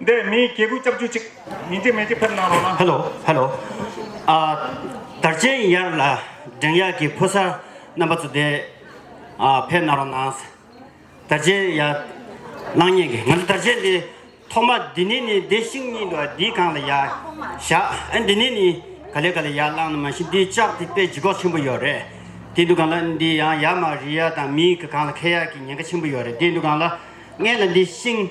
འདི་མིའི་སྐྱེ་དགུའི་ལྕགས་ཀྱུ་གཅིག། མི་འཇིགས་མེ་ལྕེ་ཕེབས་གནང་རོགས་གནང། Hello Hello དར་ཆེན་ཡར་ལ་འགྲེང་ཡག་གི་ཕོ་གསར་རྣམ་པ་ཚོ་དེ་ཕེབས་གནང་རོགས་གནང། དར་ཆེན་ཡར་གནང་སྙན་གི་ང་ཚོ་དར་ཆེན་དེ་ཐོག་མ་འདི་ནས་ནི་འདི་ཤིང་གཉིས་འདུག་ཨ་འདི་གང་ལ་ཡར་བཞག་ཨ་འདི་ནས་ནི་ག་ལེ་ག་ལེ་ཡར་བསླངས་ནི་མ་གཞི་འདི་ལྕགས་དེ་དཔེ་ཇི་གོག་ཆེན་པོ་ཡོད་རེད་དེ་འདུག་གང་ལ་འདི་ཡང་ཡར་མ་རི་ཡར་དང་མིའི་གང་ལ་ཁེ་ཡག་གི་ཉེན་ཁ་ཆེན་པོ་ཡོད་རེད་དེ་འདུག་གང་ལ་ལྔས་ལ་འདི་ཤིང།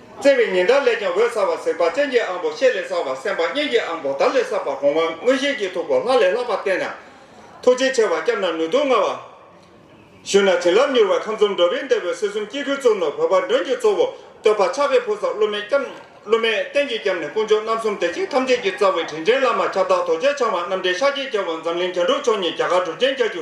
བརྩེ་བའི་ཉི་ཟླ་ལས་ཀྱང་འོད་གསལ་བ་གཟིགས་པ་སྤྱན་གྱི་ཨང་པོ་ཤེལ་ལས་གསར་བ་སེམས་པ་སྙན་གྱི་ཨང་པོ་དར་ལས་གསར་བ་གོང་མ་མངོན་ཤེས་ཀྱི་ཐུགས་སྒོ་ལྷ་ལས་ལྷག་པར་བརྟན་ན། ཐུགས་རྗེ་ཆེ་བ་སྐྱབས་ན་ནུས་མཐུ་མངའ་བ། བཞུགས་ན་བྱིན་རླབས་མྱུར་བ་ཁམས་གསུམ་འགྲོ་བའི་འདས་པའི་སྲིད་གསུམ་སྐྱེ་རྒུའི་གཙོ་མོ་བོད་པ་མགྲོན་གྱི་གཙོ་བོ་བསྟོད་པ་ཕྱག་རེ་ཕུལ་ས་སློབ་མའི་སྐྱབས། སློབ་མའི་རྟེན་གྱི་སྐྱབས་ནི་དཀོན་མཆོག་རྣམ་གསུམ་བདེ་གཤེགས་ཐམས་ཅད་ཀྱི་རྩ་བའི་དྲིན་ཅན་བླ་མ་ཁྱབ་བདག་དོལ་རྒྱལ་འཆང་བ་རྣམ་འདྲེན་ཤཱཀྱའི་རྒྱལ་པོ་འཛམ་གླིང་རྒྱ་འགྲོ་མཆོག་ཉིད་རྒྱ་གར་གྲུ་ཆེན་རྒྱ་ཆུ་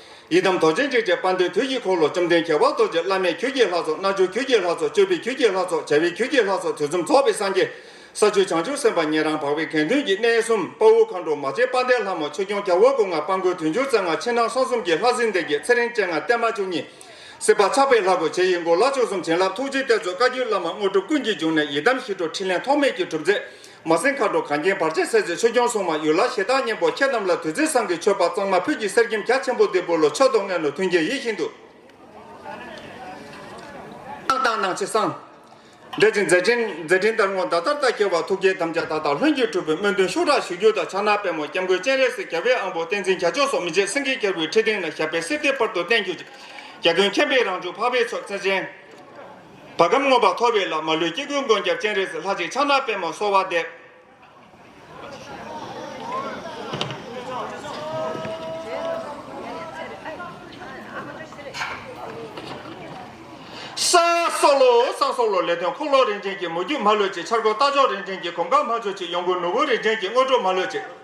ཡི་དམ་རྡོ་རྗེ་འཇིགས་བྱེད་དཔའ་འདུལ་དུས་ཀྱི་འཁོར་ལོ་བཅོམ་ལྡན་རྒྱལ་བ་རྡོ་རྗེ་བླ་མས་ཁྱོད་ཀྱི་ལྷ་ཚོགས་རྣལ་འབྱོར་ཁྱོད་ཀྱི་ལྷ་ཚོགས་སྤྱོད་པའི་ཁྱོད་ཀྱི་ལྷ་ཚོགས་བྱ་བའི་ཁྱོད་ཀྱི་ལྷ་ཚོགས་དུས་གསུམ་རྫོགས་པའི་སངས་རྒྱས། ས་བཅུ་བྱང་ཆུབ་སེམས་དཔའ་ཉན་རང་འཕགས་པའི་གན་དོན་གྱི་གནས་གསུམ་དཔའ་བོ་མཁའ་འགྲོ་མ་སྤྱན་དཔའ་ལྡན་ལྷ་མོ་ཆོས་སྐྱོང་སྐྱབས་དབང་སྐུ་ལྔ་དཔའ་མགོན་དུས་འབྱུང་རྩ་ལྔ་ཕྱི་ནང་གསང་གསུམ་གྱི་ལྷ་སྲིན་སྡེ་བརྒྱད་ཚེ་རིང་སྤྱན་སྔ་བརྟན་མ་བཅུ་གཉིས། སྲིད་པ་ཆགས་པའི་ལྷ་གོ་འབྱེད་ཡིད་མགུ་ལག་མཆོག་གསུམ་བྱིན་རླབས་ཐུགས་རྗེའི་གཏེར་མཛོད་བཀའ་བརྒྱུད་བླ་མ་དངོས་གྲུབ་ཀུན་གྱི་འབྱུང་གནས་ཡི་དམ་ཞི་ཁྲོ་ཕྲིན་ལས་ཐོགས་མེད་ཀྱི་གྲུབ་རྫས། མ་སྲིང་མཁའ་འགྲོ་གངས་རྒྱན་བར་ཆད་སེལ་མཛད་ཆོས་སྐྱོང་སྲུང་མ་ཡུལ་ལྷ་ཞེ་སྡང་གཉན་པོ་ཁྱེད་རྣམས་ལ་དུས་ཚོད་བཟང་གི་མཆོད་པ་གཙང་མ་ཕུད་ཀྱི་གསེར་སྐྱེམས་རྒྱ་ཆེན་པོ་འདི་འབུལ་ལོ་མཆོད་དོ་མངལ་ནོར་མཐུན་རྒྱལ་ཡིད་བཞིན་དུ། བཏང་བཏང་གནང་བྱེད་གསང། འབྲེལ་ཅིང་མཛད་ཅིང་མཛད་ཕྲིན་དར་སྔོ་མདའ་དར་རྟ་ཁྱེར་བ་ཐུགས་བསྐྱེད་དམ་བཅའ་མཐའ་དག་ལྷུན་གྱིས་གྲུབ་པའི་སྨོན་འདུན་ཤུགས་དྲག་ཞུ་རྒྱུ་དང་ཕྱག་ན་པད་མོ་སྐྱབས་མགོན་སྤྱན་རས་གཟིགས་རྒྱལ་བའི་དབང་པོ་བསྟན་འཛིན་རྒྱ་མཆོག་སོགས་མི་མཇེད་སེང་གེ་གྱེར་བུའི་ཁྲི་སྟེང་ན་ཞབས་པད་གསེར་གཏེར་སྤར་དུ་བརྟན་གྱུར་ཅིག། རྒྱ་སྟོན་མཁྱེན་པའི་རང་བྱུང་འཕགས་པའི་ཚོགས་བརྩེགས་ཅན། བ་གམ་མངོན་པར་ཐོབ་པའི་ལ་མ་ལུས་དཀྱིལ་ཀུན་མགོན་སྐྱབས་སྤྱན་རས་གཟིགས་ལྷ་ཅིག་ཕྱག་ན་པདྨོ་གསོལ་བ་འདེབས། སང་སོགས་ལོ། སང་སོགས་ལོ་ལས་དོན་འཁོར་ལོ་རིན་ཆེན་གྱི་མོ་རྒྱུད་མ་ལུས་ཅིག་འཆར་སྒོ་རྟ་མཆོག་རིན་ཆེན་གྱི་གོམ་ཁ་མ་མཆོག་ཅིག་ཡོངས་ཀུན་ནོར་བུ་རིན་ཆེན་གྱི་དངོས་གྲུབ་མ་ལུས་ཅིག།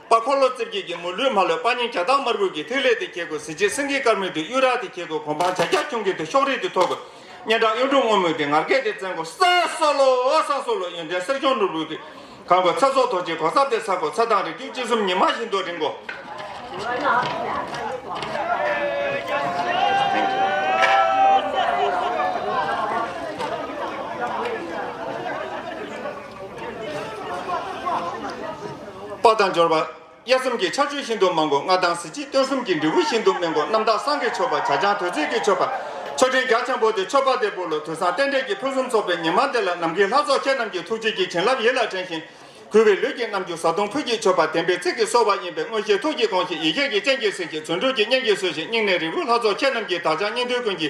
པ་འཁོར་ལོ་རྩིབས་བརྒྱད་ཀྱི་མུ་ལུས་མ་ལོད་པ་སྙིང་རྒྱ་སྟག་དམར་ཀུན་གྱི་ཐིག་ལེ་དེ་གྱེས་དགོས་གཟི་བརྗིད་སེང་གེའི་དཀར་མོས་དེ་གཡུ་རག་དེ་གྱེས་དགོས་གོ་འཕང་བྱ་རྒྱ་ཁྱུང་གིས་དེ་ཤོག་རིས་དེ་ཐོགས་དགོས་སྙན་གྲགས་གཡུང་དྲུང་སྔོན་མོས་དེ་ངར་སྐད་དེ་བཙན་དགོས་ས་སོ་ལོ་ས་སོ་ལོ་ཡོན་ཏན་གསེར་གཞོང་ནོར་བུ་དེ་གང་དགོས་ཚ་སོག་དོ་ཅེའི་གོ་སར་དེ་ཟ་དགོས་ཚ་དང་རིགས་རྒྱུད་སྤྱི་གསུམ་ཉི་མ་བཞིན་དུ་རིང་དགོས། པ་དང་སྦྱོར་བ། དབྱེ་གསུམ་གྱི་ཕྱག་མཆོད་ཤིན་ཏུ་མང་པོ་ལྔ་དང་གཟི་བརྗིད་སྟོན་གསུམ་གྱི་འབྲས་བུ་ཤིན་ཏུ་སྨིན་པོ་རྣམ་དག་སངས་རྒྱས་མཆོད་པ་བྱ་བྱང་དུས་ཚིགས་ཀྱི་མཆོད་པ། མཆོད་སྤྲིན་རྒྱ་ཆེན་པོ་དེ་མཆོད་པ་དེ་པུ་ལུ་དུས་བཟང་རྟེན་འབྲེལ་གྱི་ཕུན་སུམ་ཚོགས་པའི་ཉི་མ་འདི་ལ་ནམ་མཁའི་ལྷ་ཚོགས་ཁྱེད་རྣམས་ཀྱི་ཐུགས་རྗེ་ཀྱི་བྱིན་རླབས་ཡིད་ལ་དྲན་ཞིང། གུས་པའི་ལུས་ཀྱི་རྣམ་འགྱུར་བཟའ་བཏུང་ཕུད་ཀྱིས་མཆོད་པ་བདེན་པའི་ཚིག་གིས་གསོལ་བ་ཡིན་པས་མངོན་ཤེས་ཐུགས་ཀྱིས་དགོངས་ཤིག་ཡིད་ཁྱེད་ཀྱི་སྤྱན་གྱིས་གཟིགས་ཤིག་བརྩོན་འགྲུས་ཀྱི་སྙན་གྱིས་གསོལ་ཞིག་སྙིང་ནས་རིལ་བུ་ལྷ་ཚོགས་ཁྱེད་རྣམས་ཀྱི་བདག་ཅག་སྙིང་འདུས་ཀུན་གྱི་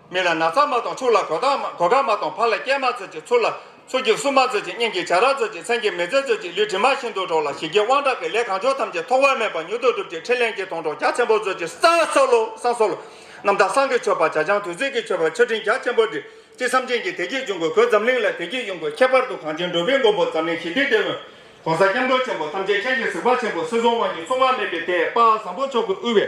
མི་ལ་ན་ཚ་མ་གཏོང་ཕྱུགས་ལ་གོ་སྐབས་མ་གཏོང་ཕ་ལ་སྐྱེལ་མ་འཚོལ་ཅིག་ཚུར་ལ་སུ་སྐྱེལ་སུ་མ་འཚོལ་ཅིག་སྙིང་གི་བྱ་ར་འཚོལ་ཅིག་མཚན་གྱི་མི་ཚེ་འཚོལ་ཅིག་ལུས་དྲི་མ་ཤིན་ཏུ་འཕྲོག་ལ་ཞི་རྒྱས་དབང་དྲག་གི་ལས་གང་བྱུང་ཐམས་ཅད་ཐོགས་བ་མེད་པར་མྱུར་དུ་འགྲུབ་ཅིག་ཕྲིན་ལས་འགྱེད་གཏོང་གྲོགས་རྒྱ་ཆེན་པོ་མཛོད་ཅིག་སང་སོགས་ལོ་སང་སོགས་ལོ། རྣམ་དག་སང་གི་མཆོད་པ་བྱ་བྱང་དུས་ཚིགས་ཀྱི་མཆོད་པ་མཆོད་སྤྲིན་རྒྱ་ཆེན་པོ་འདི་ཅི་བསམ་ཅན་གྱིས་དེ་སྐད་འབྱུང་དགོས་གོས་འཛམ་གླིང་ལ་དེ་སྐད་དབྱུང་དགོས་ཁྱད་པར་དུ་གངས་ཅན་འགྲོ་བའི་མགོན་པོ་འཛམ་གླིང་ཞི་བདེ་ལྟེ་བའི ྋགོང་ས ྋསྐྱབས་མགོན་ཆེན་པོ་ཐམས་ཅད་ཅན་གྱི་གཟིགས་པ་ཆེན་པོ་སྲིད་གསུམ་དབང་གིས་མཚུངས་མ་མེད་པའི་དེད་དཔག་བཟང་པོ་མཆོག་གིས་དབུལ་བའི།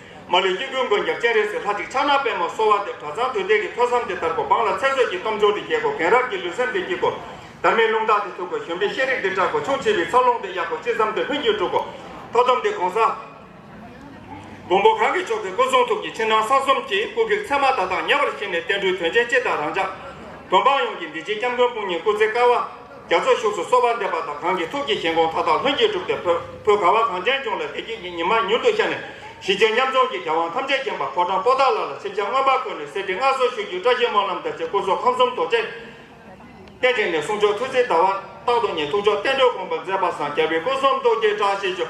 མ་ལུས་སྐྱེ་རྒུའི་མགོན་སྐྱབས་སྤྱན་རས་གཟིགས་ལྷ་གཅིག་ཕྱག་ན་པདྨོ་གསོལ་བ་འདེབས་གྲ་ཚང་དུས་འདས་ཀྱི་ཐོས་བསམ་དེ་དར་གོ་འབངས་ལ་ཚེ་བསོད་ཀྱི་སྟོབས་འབྱོར་དེ་རྒྱས་གོ་གེང་རབས་ཀྱི་ལུས་སེམས་དེ་སྐྱིད་གོ། དར་མའི་རླུང་རྟ་དེ་མཐུག་གོ་གཞོན་པའི་ཤེས་རིག་དེ་བཀྲག་གོ་ཆུང་བྱིས་པའི་འཚར་ལོངས་དེ་ཡག་གོ་ཅི་བསམ་དེ་ལྷུན་གྱིས་འགྲུབ་གོ། ཐོ་འདོམས་དེ་གོང་ས་མགོན་པོ་གང་གི་མཆོག་གི་སྐུ་གསུང་ཐུགས་ཀྱི་ཕྱི་ནང་གསང་གསུམ་གྱི་སྐུ་བགེགས་མཚན་མ་དག་དང་ཉེ་བར་བྱས་ནས་བསྟན་འགྲོའི་དོན་ཆེན་སྤྱི་དང་རང་ཅག། བོད་འབངས་ཡོངས་ཀྱི་འདི་ཕྱིའི་སྐྱབས་མགོན་སྤུན་གཉེན་སྐུ་ཚེ་དཀར་བ། རྒྱ་མཚོ་བཞུགས་སུ་གསོལ་བ་འདེབས་པ་དང་གང་གི་ཐུགས་ཀྱི་བཞེད་དགོངས་མཐའ་དག་ལྷུན་གྱིས་གྲུབ་སྟེ་བོད་ཁུལ་ག་བ་གངས་ཅན་ལྗོངས་ལ་བདེ་སྐྱིད་ཀྱི་ཉི་མ་མྱུར་དུ་ཤར་ནས་གཞི་བཅོལ་མཉམ་འཛོམས་ཀྱི་རྒྱལ་དབང་ཐམས་ཅད་མཁྱེན་པ་ཕོ་བྲང་པོ་ཏཱ་ལ་ལ་ཆིབས་ཆ་མངོན་པར་འཁོད་ནས་གསེར་ཁྲི་མངའ་གསོལ་ཞུ་རྒྱུའི་བཀྲ་ཤིས་སྨོན་ལམ་བརྡ་ཆད་སྐུ་གསོལ་ཁམས་གསུམ་རྡོ་རྗེ་གདན་དྲངས་ནས་གསུང་མཆོག་ཐུགས་བརྩེའི་ཟླ་བ་རྟག་ཏུ་ཉེ་ཐུགས་མཆོག་བསྟན་འགྲོའི་དགོངས་པ་མཛད་པ་སངས་རྒྱ་བའི་སྐུ་གསུམ་རྡོ་རྗེའི་བཀྲ་ཤིས་ཆོས་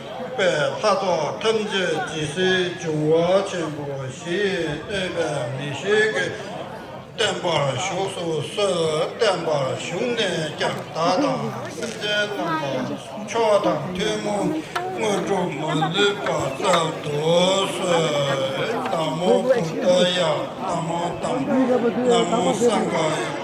ཐུབ་པའི་ལྷ་ཚོགས་ཐམས་ཅད་ཇི་སྲིད་འབྱུང་བ་ཆེན་པོ་བཞི་ཡིས་བསྟོད་པའི་ངེས་ཤེས་ཀྱིས་བརྟན་པར་བཞུགས་སུ་གསོལ། བརྟན་པར་བཞུགས་ནས་ཀྱང་བདག་དང་སེམས་ཅན་རྣམས་ལ་མཆོག་དང་ཐུན་མོང་དངོས་གྲུབ་མ་ལུས་པ་བསྩལ་དུ་གསོལ། ན་མོ་བུདྡྷ་ཡ། ན་མོ་དམ། ན་མོ་སངྒྷ་ཡ།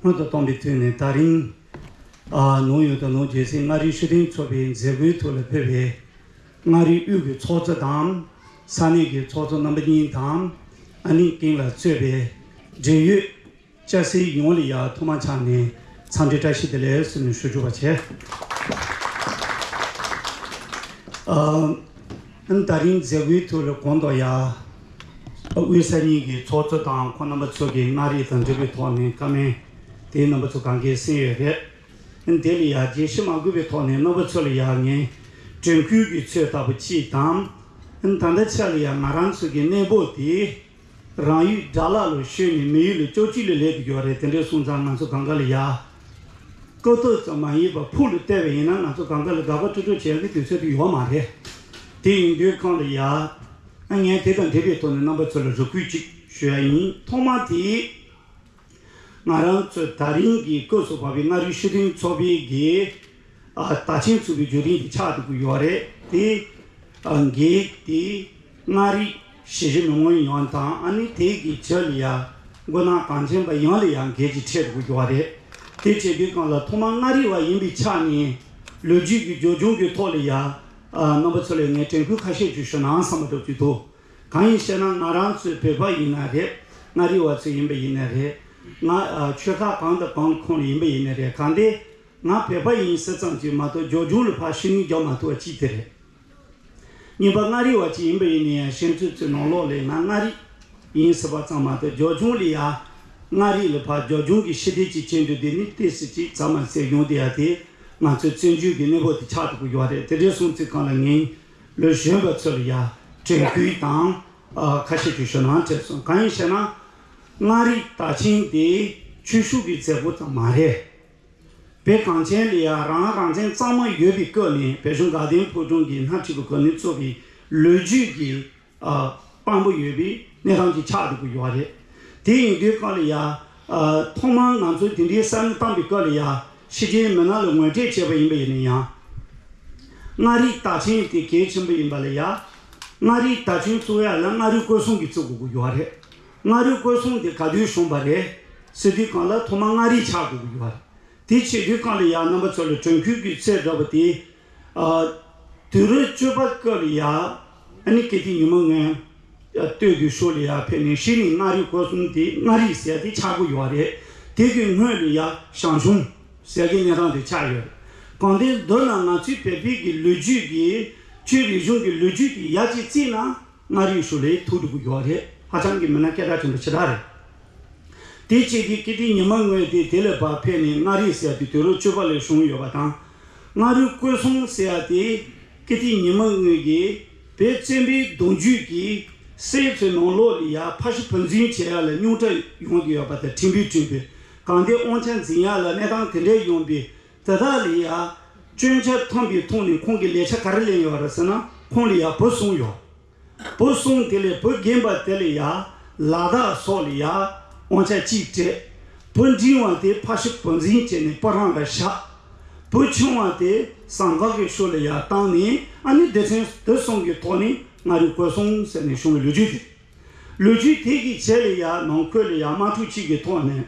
སྔོན་དུ་བཏང་པའི་དུས་ནས་ད་རིང། ནུབ་ཡུལ་དུ་ནུབ་རྒྱལ་སྲིད་མངའ་རིས་ཤུགས་ལྡན་ཚོགས་པའི་མཛད་སྒོའི་ཐུགས་ལ་ཕུལ་བས། མངའ་རིས་དབུས་ཀྱི་ཚོགས་གཙོ་དང། ས་གནས་ཀྱི་ཚོགས་གཙོ་རྣམ་པ་གཉིས་དང། ཨ་ནེ་ཀིང་ལ་གཙོས་པའི་འབྲེལ་ཡོད་སྐྱ་སེར་ཡོངས་ལ་ཡང་ཐོག་མ་ཆགས་ནས་འཚམས་འདྲི་བཀྲ་ཤིས་བདེ་ལེགས་ཟེར་ནས་ཞུ་བཅུག་པ་བྱས། ཨང་ད་རིང་མཛད་སྒོའི་ཐོག་ལས་གོང་མདོ་ཡར་དབུས་ས་གཉིས་ཀྱི་ཚོགས་གཙོ་དང་ཁོང་རྣམ་པ་ཚོས་ཀྱི་མངའ་རིས་དང་འབྲེལ་བའི་ཐོག་ནས་བཀའ་མན་དེའི་རྣམ་པ་ཚོ་གང་གཱའི་གསེང་ཡོད་རེད། དེ་ལས་ཡར་རྒྱལ་གཞི་མ་དགོས་པའི་ཐོག་ནས་རྣམ་པ་ཚོ་ལ་ཡར་ངའི་དྲན་ཁུལ་གྱི་ཚོད་ལྟ་བུ་གཅིག་དང། ད་ལྟ་ཆ་ལ་ཡར་ང་རང་ཚོ་གི་གནས་བབ་དེ་རང་ཡུལ་དགྲ་ལ་ལོ་ཤོད་ནས་མི་ཡུལ་ལོ་བཅོ་བཅུ་ལས་ལས་ཀྱི་རྒྱུ་བ་རེད་དེ་འདྲའི་གསུང་ཙང་ང་ཚོ་གངས་དཀར་ལ་ཡག། སྤྲོ་བསྡོད་ཙམ་མ་ཡིན་པར་ཕུགས་ལ་བལྟས་པ་ཡིན་ན་ང་ཚོ་གངས་དཀར་ལ་དགག་པ་སྤྲོ་སྤྲོ་བྱེད་ཡག་གི་དུས་ཚོད་དུ་ཡོད་མ་རེད། དེ་ཡིན་དུས་གངས་ལ་ཡག། ངས་དེ་དང་དེ་བའི་ཐོག་ནས་རྣམ་པ་ཚོ་ལ་རེ་སྐུལ་ཅིག་ཞུ་ཡག་ཡིན། ཐོག་མར་དེའི། ང་རང་ཚོས་ད་རིང་གི་སྐབས་སུ་བབས་པའི་མངའ་རིས་ཤུགས་ལྡན་ཚོགས་པའི་སྒེར་བདག་ཆེན་ཚུད་པའི་བརྗོད་དོན་གྱི་ཆ་དེ་གོ་ཡོད་པ་རེད་དེ། སྒེར་དེས་མངའ་རིས་ཞེ་བཞི་མི་མངོན་ཡོང་བ་དང་ཨ་ནི་དེ་གི་ཕྱི་ལ་ཡང་མགོ་ནག་གངས་ཅན་པ་ཡོངས་ལ་ཡང་སྒེར་གྱི་ཁྲལ་དུ་གོ་གྱུར་བ་རེད་དེ། བྱེད་དུས་གང་ལ་ཐོག་མར་མངའ་རིས་བ་ཡིན་པའི་ཆ་ནས་ལོ་རྒྱུས་ཀྱི་འགྱོད་གདུང་གི་ཐོག་ལ་ཡང་རྣམ་པ་ཚོ་ལས་ངས་དྲན་སྐུལ་ཁ་ཤས་ཞུ་ཞོར་ནང་བསམ་པ་སྒྲོག་རྒྱུ་དུ། གང་ཡིན་ཞེ་ན་ང་རང་ཚོའི་བོད་པ་ཡིན་ན་རེད། མངའ་རིས་བ་ཚོ་ཡིན་པ་ཡིན་ན་རེད། ང་ཆོལ་ཁ་གང་དང་གང་གི་ཁོངས་ལ་ཡིན་པ་ཡིན་ན་རེད་གང་དེ། ང་བོད་པ་ཡིན་ཟེར་ཙམ་གྱིས་མ་གཏོགས་སྦྱོར་སྦྱོང་ལ་ཕར་ཤུན་མིག་རྒྱག་མ་ཐུབ་བ་གཅིག་དེ་རེད། གཉིས་པ་མངའ་རིས་བ་ཅིག་ཡིན་པ་ཡིན་ན་ཡང་ཤེས་ཚོད་ཚོད་ནང་ལོགས་ལས་ང་མངའ་རིས་ཡིན་ཟེར་བ་ཙམ་མ་གཏོགས་སྦྱོར་སྦྱོང་ལ་ཡང། མངའ་རིས་ལ་ཕར་སྦྱོར་སྦྱོང་གི་ཤེས་སྡེར་ཅིག་བྱེད་འདོད་དེ་ནི་ལྟོས་ཟེར་ཅིག་ཚང་མ་ཟེར་ཡོང་དེ་ཡ་དེ། ང་ཚོའི་བཙན་བྱོལ་གྱི་གནས་བབ་དེ་ཆགས་འདུག་གི་ཡོད་རེད་དེ་འདྲས་སོང་ཚིག་གང་ལ་ངན། ལོས་གཞོན་པ་ཚོར་ཡ་དྲན་ཁུལ་དང། ཁ་ཤས་ཀྱིས་ཞོ་ནང་ཁྲེལ་སོང་གང་ཡིན་ཞེ་ན། མངའ་རིས་ད་ཆིང་དེ་ཆོས་ཞུགས་ཀྱི་མཛད་སྒོ་ཙམ་མ་རེད། བོད་གངས་ཅན་ལ་ཡང་རང་རང་བཙན་གཙང་མ་ཡོད་པའི་སྐབས་ནས་བོད་གཞུང་དགའ་ལྡན་ཕུལ་བྱུང་གི་སྣ་ཁྲིད་པ་ཁོ་ནས་གཙོ་བའི་ལོ་རྒྱུས་ཀྱི། དཔང་པོ་ཡོད་པའི་གནས་སྟངས་ཀྱི་ཆགས་འགྲོ་གི་ཡོད་རེད། དེ་ཡིན་དུས་སྐབས་ལ་ཡ། ཐོག་མར་ང་ཚོས་དེ་འདྲའི་བསམ་བློ་བཏང་པའི་སྐབས་ལ་ཡ། ཕྱི་རྒྱལ་མི་སྣ་ལ་ངོས་འཕྲད་བྱས་པ་ཡིན་པ་ཡིན་ན་ཡང། མངའ་རིས་རྟ་ཆེན་དེ་གལ་ཆེན་པོ་ཡིན་པ་ལ་ཡ། མངའ་རིས་རྟ་ཆེན་བཙུགས་ཡ་ལ་མངའ་རིས་བཀོད་སྲུང་གི་བཙུགས་དགོས་ཀྱི་ཡོད་རེད། མངའ་རིས་བཀོད་སྲུང་དེ་ག་དུས་བྱུང་བ་རེད། ཟེར་དུས་སྐབས་ལ་ཐོག་མར་མངའ་རིས་ཆགས་དགོས་ཀྱི་ཡོད་རེད། དེ་བྱས་དུས་སྐབས་ལ་ཡ་རྣམ་པ་ཚོ་ལ་དྲན་ཁུལ་གྱི་ཚད་འདྲ་བོ་དེ། དུས་རོལ་སྤྱོད་པ་སྐབས་ལ་ཡ། ཨ་ནི་སྐད་ཅིག་ཉི་མ་ལྔའི། སྟོད་དུ་ཤོ་ལ་ཡ་ཕེབས་ནས་ཤི་ནི་མངའ་རིས་སྐོར་གསུམ་དེ་མངའ་རིས་ཟེར་ཏེ་ཆགས་སྒོ་ཡོད་རེད། དེ་གི་སྔོན་ལ་ཡ་ཞང་ཞུང་ཟེར་གི་གནས་སྟངས་དེ་ཆགས་ཡོད་རེད། གང་ལྟའི་མདོར་ན་ང་ཚོའི་བལ་བོད་ཀྱི་ལོ་རྒྱུས་ཀྱི་ཆོས་རིག་གཞུང་གི་ལོ་རྒྱུས་དེ་ཡ་གཅིག་བརྩིས་ན་མངའ་རིས་ཤོ་ལའི་ཐུགས་སྒྲུབ་ཡོད་རེད་ཧ་ཅང་གི་མི་སྣ་སྐད་གྲགས་ཆེན་པོ་ཆེ་དག་རེད། དེ་བཅས་དེ་སྐད་ཅིག་ཉི་མ་ལྔའི་དེ་དེ་ལ་བབས་ཕེབས་ནས་མངའ་རིས་ཟེར་ཏེ་དུས་རོལ་སྤྱོད་པ་ལས་བྱུང་ཡོད་པ་དང། སྔ་རོལ་བཀོད་གསུམ་བསྲེ་བ་དེ་ཀི་ཏི་ཉི་མ་དངོས་རྒྱལ་བེ་བཙན་པོའི་གདུང་རྒྱུད་ཀྱི་སྲས་ཚོའི་ནང་ལོགས་ལི་ཡག་ཕ་ཤི་ཕུ་འཛིན་བྱེད་ཡག་ལ་སྙུང་གྲ་ཡོང་གི་ཡོད་པ་དང་ཁྲིམས་དཔེ་བྲིས་པའི་གང་དེ་དབང་ཆ་འཛིན་ཡག་ལ་གནས་སྟངས་དེ་འདྲའི་ཡོང་པས་དེ་དག་ལི་ཡག་སྐྱོན་ཆ་ཐོན་པའི་ཐོག་ནས་ཁོང་གིས་ལས་ཆ་ག་རེ་ལེན་ཡོད་རེད་ཟེར་ན་ཁོང་ལི་ཡག་བུ་བཟུང་ཡོད། བུ་གསུམ་དེ་ལས་བུ་རྒན་པ་དེ་ལ་ཡ། ལ་དྭགས་སོགས་ལ་ཡ། དབང་ཆ་གཅིག་སྤྲད། བུ་འབྲིང་བ་དེ་ཕ་ཤུ་བུ་འཛིན་བྱས་ནས་པོ་རང་ལ་བཞག། བུ་ཆུང་བ་དེ་ཟངས་འབག་གི་ཤུ་ལ་ཡ་བཏང་ནས་ཨ་ནེ་སྡེ་ཕྲན་དེ་གསུམ་གྱི་ཐོག་ནས་ང་རི་བཀོད་སོང་ཟེར་ནས་བྱུང་བའི་ལོ་རྒྱུས་དེ་རེད། ལོ་རྒྱུས་དེ་གི་བྱས་ལ་ཡ་ནང་ཁུལ་ལ་ཡ་དམག་འཁྲུག་ཅིག་གི་ཐོག་ནས།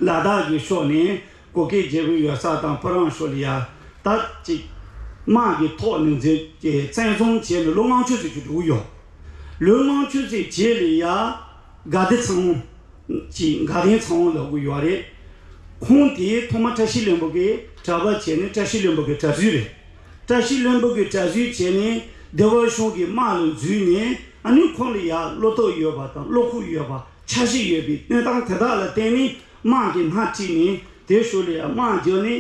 ལ་དྭགས་ཀྱི་ཕྱོགས་ནས་གུ་གེའི་རྒྱལ་པོའི་ཡོད་སར་དང་པོ་རང་ཤོ་ལི་ཡར་དར་ཅིག། དམག་གི་ཐོག་ནས་འཛེག་ཀྱིས་བཙན་བཟུང་བྱས་ནས་ལོ་ལྔ་ཆུ་ཚོད་བཅུ་དྲུག་ཡོལ། ལོའི་ལྔ་ཆུ་ཚོད་བརྒྱད་ལི་ཡར་དགའ་བདེ་ཚང་བོ། ཀྱི་དགའ་ལྡན་ཚང་བོ་ལ་དགོས་ཡོད་རེད། ཁོང་དེ་ཐོག་མ་བཀྲ་ཤིས་བློན་པོ་གི་གྲྭ་པ་བྱས་ནས་བཀྲ་ཤིས་བློན་པོ་གི་གྲྭ་བཟོས་རེད། བཀྲ་ཤིས་བློན་པོ་གི་གྲྭ་བཟོས་བྱས་ནས་སྡེ་བ་གཞུང་གི་དམག་ལ་འཛུལ་ནས་ཨ་ནུས་ཁོང་ལི་ཡར་བློ་སྟོབས་ཡོད་པ་དང་བློ་ཁུག་ཡོད་པ་ཆ་ཤས་ཡོད་པའི་གནས་སྟངས་དེ་དག་ལ་བརྟེན་ནས། དམག་གི་སྣ་གཅིག་ནི་དེར་ཞུགས་ལ་དམག་རྒྱུ་ནི་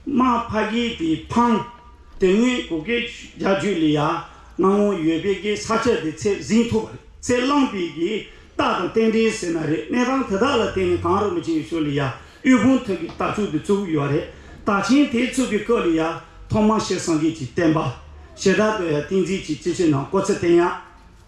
དམག་ཕ་གི་དེ་འཕང། དེ་སྔོན་གུ་གེ་རྒྱ་རྒྱུད་ལས་ཡ་ང་ངོ་ཡོད་པའི་གི་ས་ཆ་དེ་ཚད་གཟིངས་ཐུབ་པ་རེད་ཚད་བླངས་པའི་གི་རྟགས་དང་རྟེན་འབྲེལ་ཟེར་ན་རེད་གནས་སྟངས་དེ་དག་ལ་བརྟེན་ནས་གངས་རི་མི་ཆེན་ཞུགས་ལ་ཡ་དབུས་གུང་ཐུག་གི་རྟ་ཕྱུགས་དེ་བཙུགས་ཡོད་རེད་རྟ་ཆེན་དེ་བཙུགས་པའི་སྐབས་ལ་ཡ་ཐོག་མ་ཤེར་སངས་རྒྱས་ཀྱི་བསྟན་པ་ཞེ་དྲག་ཏུ་ཡ་ཏིང་འཛིན་གྱི་སྤྱི་ཆིངས་ནང་བཀོད་ཚེ་བསྟན་ཡག།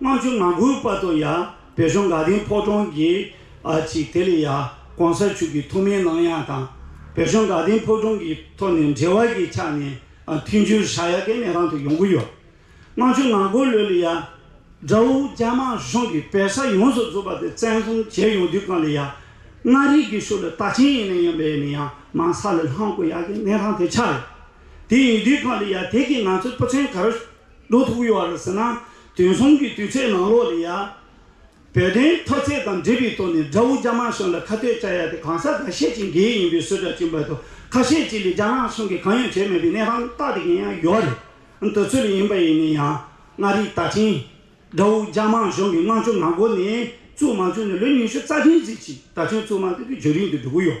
དམངས་ཆུང་ནང་ཁུལ་དཔའ་དང་ཡ་བེ་གཞོང་དགའ་ལྡན་ཕོ་བྲང་གི་ཨ་ཅིག་དེ་ལས་ཡ་གོང་ས་ཕྱུག་གི་ཐོག་མའི་གནང་དབྱངས་དང་བེ་གཞོང་དགའ་ལྡན་ཕོ་བྲང་གི་ཐོག་ནས་འབྲེལ་བ་གྱི་ཆ་ནས་མཐུན་འགྱུར་ཧྲ་ཡ་ཀའི་མེ་རང་དུ་ཡོང་གི་ཡོད། དམངས་ཆུང་ནང་ཁུལ་ལོས་ལས་ཡ་དགྲ་བོ་རྒྱ་དམར་གཞུང་གིས་བེ་ས་ཡོངས་སུ་རྫོགས་པ་དེ་བཙན་བཟུང་བྱས་ཡོང་དུས་གང་ལས་ཡ་མངའ་རིས་ཀྱི་ཕྱོགས་ལས་རྟགས་ཆེན་ཡིན་ནའི་ཡང་བེ་ནི་ཡ་མང་ས་ལས་ལྷང་དགོས་ཡ་ཀའི་གནས་རང་དེ་ཆགས་ཡོད། དེ་ཡིན་དུས་གང་ལས་ཡ་དེ་གིས་ང་ཚོའི་སྤུ་ཚན་གར། ལུགས་ཐུག་ཡོད་རེད་ཟེར་ན་དུས་མཚུངས་ཀྱི་དུས་ཚོད་ནང་ལོགས་ལས་ཡ། བོད་དོན་མཐོ་ཚད་དང་འབྲེལ་བའི་ཐོག་ནས་དགྲ་བོ་རྒྱ་དམར་གཞུང་ལ་ཁ་གཏད་བཅའ་ཡ་དེ་གང་ཟག་འགའ་ཤས་ཀྱི་འགན་ཡིན་པའི་གསོལ་བསྒྲགས་བྱིན་པ་དང་ཁ་ཤས་ཀྱིས་ལས་རྒྱ་ནག་གཞུང་གིས་གང་ཡང་བྱས་མེད་པའི་གནས་སྟངས་སྟག་དེ་གན་ཡང་ཡོད་རེད་འདོད་ཚུལ་ཡིན་པ་ཡིན་ནས་ཡང་མངའ་རིས་རྟ་མཆན། དགྲ་བོ་རྒྱ་དམར་གཞུང་གི་དམངས་གཙོ་ངག་སྒོ་ནས་བཙུགས་མ་བཅུག་ནས་ལོ་ཉི་ཤུ་རྩ་ཆེན་ཟིག་ཅིག་ད་ཆོན་བཙུགས་མ་ཐུབ་པའི་བརྗོད་རིན་དུ་འགྲོ་གི་ཡོད།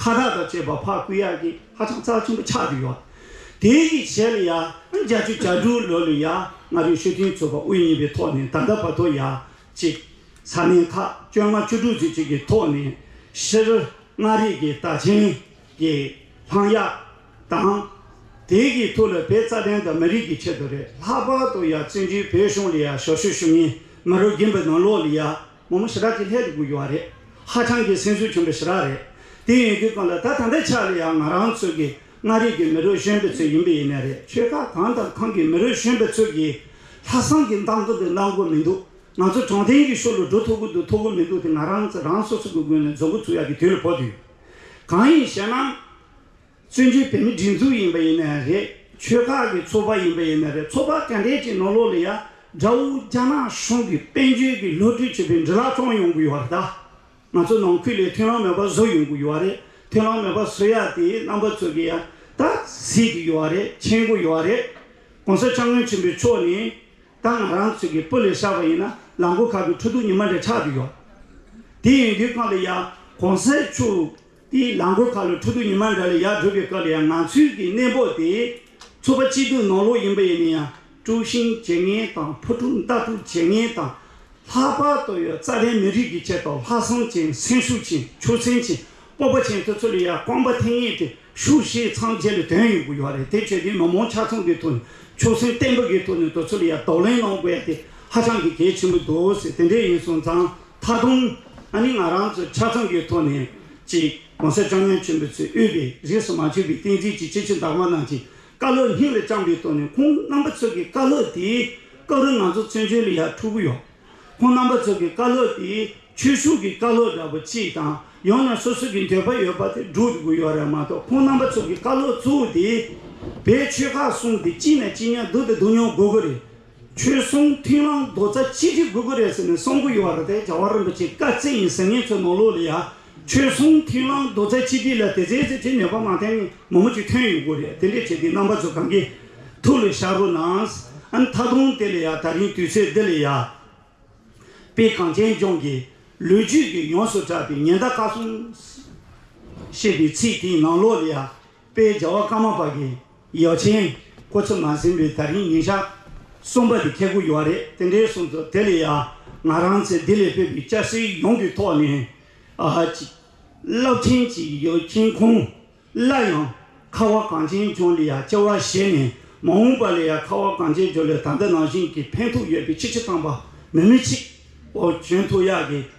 ཁ་བྲག་དང་བཅས་པ་ཕག་སྐུད་ཡག་གིས་ཧ་ཅང་རྩ་ཆེན་པོ་ཆགས་ཀྱི་ཡོད། དེའི་ཡིད་ཆེས་ལ་ཡང་བརྒྱ་བཅུ་གྱ་དྲུག་ལོན་ལོན་ཡང་ང་རིགས་ཞོ་ཐུན་ཚོགས་པ་དབུ་བརྙེས་པའི་ཐོག་ནས་ད་ལྟ་བར་དུ་ཡང་གཅིག་ས་གནས་ཁག་བཅོ་ལྔ་བཅུ་དྲུག་ཅུ་གཅིག་གི་ཐོག་ནས་ཕྱིར་མངའ་རིས་ཀྱི་རྟ་ཆེན་གྱི་ལྷང་ཡག་དང། དེའི་གི་ཐུགས་ལ་བའི་རྩ་དོན་དང་མི་རིགས་ཀྱི་ཆེད་དུ་རེད། ལྷག་པར་དུ་ཡང་བཙན་བྱོལ་བོད་གཞུང་ལ་ཡང་ཞོ་ཞུ་ཞུ་ངེས་མི་རུ་རྒན་པའི་ནང་ལོགས་ལ་ཡང། མ་མོ་ཞི་དྲག་ཅིག་ལྷད་དུ་བསྐུར་རྒྱུ་བ་རེད། ཧ་ཅང་གི་སེམས་གསོའི་བྱོན་པའི་ཞི་དྲག་རེད། དེ་ཡིན་དུས་གང་ལ་ད་ད་འདི་ཆ་ལ་ཡང་ང་རང་ཚོ་གི་མངའ་རིས་ཀྱི་མི་རོའི་གཞོན་པའི་ཚོད་ཡིན་པའི་ཡིན་ནའི་རེད་ཆོལ་ཁ་གང་དང་གང་གི་མི་རོའི་གཞོན་པའི་ཚོད་ཀྱིས་ལྷ་བསང་གི་འདམ་གང་དུ་གནང་གོ་མི་འདུག་ང་ཚོ་དྲང་བདེན་གྱི་ཤོར་ལོ་འགྲོ་ཐུབ་གོ་དུ་ཐུབ་གོ་མི་འདུག་དེ་ང་རང་ཚོ་རང་སོ་སོ་གི་སྒོ་ནས་རྫོགས་གོ་ཐུབ་ཡག་གི་དུས་ལ་བབ་དུས་གང་ཡིན་ཞེ་ན། བཙན་བྱོལ་བོད་མི་སྒྲིག་འཛུགས་ཡིན་པ་ཡིན་ན་ཡང་རེད་ཆོལ་ཁ་གི་ཚོགས་པ་ཡིན་པ་ཡིན་ན་རེད་ཚོགས་པ་ག་འདྲས་ཀྱི་ནང་ལོགས་ལ་ཡང་དགྲ་བོ་རྒྱ་ནག་གཞུང་གི་དཔལ་འབྱོལ་གྱི་བློ་གྲོས་བྱེད་པའི་འདྲི་ལག་ཙོང་ཡོང་གི་ཡོད་རེད་ད། ང་ཚོ་ནང་ཁུལ་ལས་ཐོན་ལམ་མེད་པ་བཟོ་ཡོང་གི་ཡོད་རེད་ཐོན་ལམ་མེད་པ་བཟོ་ཡག་དེ་རྣམ་པ་ཚོ་གི་ཡང་ད་གཟིགས་གི་ཡོད་རེད་མཁྱེན་གི་ཡོད་རེད། གོང་ས་སྐྱབས་མགོན་ཆེན་པོའི་མཆོག་ནས་ད་ང་རང་ཚོ་གི་སྤུ་ལས་བཤགས་པ་ཡིན་ན་ལག་མགོ་ཁ་གི་འཕྲོ་འདུ་ཉི་མ་འདྲ་ཆགས་གི་ཡོད་དེ་ཡིན་དུས་སྔར་ལ་ཡང་གོང་ས་མཆོག་དེའི་རླངས་འཁོར་ཁ་ལོ་ཁྲོ་དུག་ཉི་མ་འདྲ་ལས་ཡར་བགྲོད་པའི་སྐབས་ལ་ཡང་ངང་ཚུལ་གྱི་གནས་བབ་དེས། ཚོ་པ་སྐྱིད་སྡུག་ནོར་ལོག་ཡིན་པ་ཡིན་ན་ཡང་དཀྲུགས་ཤིང་བྱེད་ངན་དང་ཕོ་དཀྲུགས་མདའ་དཀྲུགས་བྱེད་ངན་དང། ལྷག་པར་དུ་ཡོད་རྩ་ལྷའི་མི་རིགས་ཀྱི་ཆེད་དུ་ལྷག་བསམ་ཅན་སེམས་ཤུགས་ཅན་ཆོས་སེམས་ཅན་སྤོབས་པ་ཅན་དེ་ཚོ་ལ་ཡང་རྐང་པ་འཐེན་ངེས་ཏེ་ཤུགས་ཤིག་ཚང་བྱས་ལ་དོན་ཡོང་གི་ཡོད་རེད་དེ་བྱས་དུས་མི་མང་ཆ་ཚང་གི་ཐོག་ནས་ཆོས་སེམས་བརྟན་པོ་གི་ཐོག་ནས་དེ་ཚོ་ལ་ཡང་དོགས་གླེང་གནང་དགོས་ཡ་དེ་ཧ་ཅང་གི་གལ་ཆེན་པོ་འདུག་ཟེར་དེ་འདྲས་ཡིན་སོང་ཙང་ད་དུང་ཨ་ནི་ང་རང་ཚོས་ཆ་ཚང་གི་ཐོག་ནས་ཀྱིས་གོང་ས་ཀྱང་ཉོན་ཆེན་པོ་ཚོས་དབུས་པའི་རིས་སུ་མ་ཆུད་པའི་བསྟན་རྩིས་ཀྱི་སྤྱི་ཆིངས་དག་མ་རྣམས་ཀྱི་བཀའ་སློབ་སྙིང་ལ་བཅངས་པའི་ཐོག་ནས་ཁོང་རྣམ་པ་ཚོ་གི་བཀའ་སློབ་དེའི་སྐབས་རེ་ང་ཚོ་མཚོན་བྱོལ་ལ་ཡར་འཁྲུག་གི་ཡོད། ཁོང་རྣམ་པ་ཚོ་གི་བཀའ་སློབ་དེ་ཆོས་ཞུགས་ཀྱི་བཀའ་སློབ་འདྲ་པོ་ཅིག་དང་ཡང་ན་སོ་སོ་གི་འདོད་པ་ཡོད་པ་དེ་བསྒྲུབ་དགོས་ཡོད་རེད་མ་གཏོགས་ཁོང་རྣམ་པ་ཚོ་གི་བཀའ་སློབ་གཙོ་བོ་དེ་བོད་ཆོལ་ཁ་གསུམ་དེ་གཅིག་ན་གཅིག་ཉལ་སྡུག་དང་སྡུག་མྱོང་དགོས་ཀྱི་རེད། ཆོལ་གསུམ་མཐུན་ལམ་རྡོ་རྩ་གཅིག་སྒྲིལ་དགོས་ཀྱི་རེད་ཟེར་ནས་གསུང་གི་ཡོད་རེད་དེ་རྒྱ་བོད་རིན་པོ་ཆེ་བཀའ་བརྩི་ཡིན་ཟེར་ངེད་ཚོའི་ནོར་ལུག་ལ་ཡ། ཆོལ་གསུམ་མཐུན་ལམ་རྡོ་རྩ་གཅིག་སྒྲིལ་ལ་དེ་ཟེར་ཟེར་གྱིས་ནུས་པ་མ་བསྟན་ནས་མང་པོ་ཅིག་ཐོན་ཡོད་དགོས་རེད་དེ་འདྲས་བྱས་ཏེ་རྣམ་པ་ཚོ་གང་གི་ཐུགས་ལ་ཤར་རོགས་གནང། ཨ་མཐའ་དུང་དེ་ལ་ཡ་ད་རིང་དུས་ཚོད་འདི་ལ་ཡ། དཔེ་གངས་ཅན་ལྗོངས་ཀྱི་ལོ་རྒྱུས་ཀྱི་ཡོངས་སུ་གྲགས་པའི་ཉེན་བརྡ་བཀའ་གསུང། ཞེས་པའི་ཚིག་དེའི་ནང་ལོགས་ལ་ཡ། པའི་རྒྱལ་བ་ཀརྨ་པ་ཀའི་ཡོ་ཆེན་སྐུ་ཚེ་མ་ཟིན་པའི་ད་རིང་ཉིན་ཞག་གསུམ་པ་དེ་ཁེལ་དགོས་ཀྱི་བ་རེད་དེ་འདྲའི་གསུངས་སོ་དེ་ལས་ཡང་ང་རང་ཚེ་འདི་ལས་ཕེབས་པའི་སྐྱ་སེར་ཡོངས་ཀྱི་ཐོག་ནས་རླབས་ཆེན་གྱི་ཡོ་ཆེན་ཁོང་གླ་ཡང་ཁ་བ་གངས་ཅན་ལྗོངས་ལས་ཡ་སྐྱེ་བ་བཞེས་ནས་མ་འོངས་པ་ལས་ཡ་ཁ་བ་གངས་ཅན་ལྗོངས་ལས་ད་ལྟ་ནང་བཞིན་གྱི་ཕན་ཐོགས་ཡོད་པའི་ཕྱི་ཕྱི་ཐང་པ་མི་མི་ཆིག་འོག་གྱོན་ཐུག་ཡག་གི།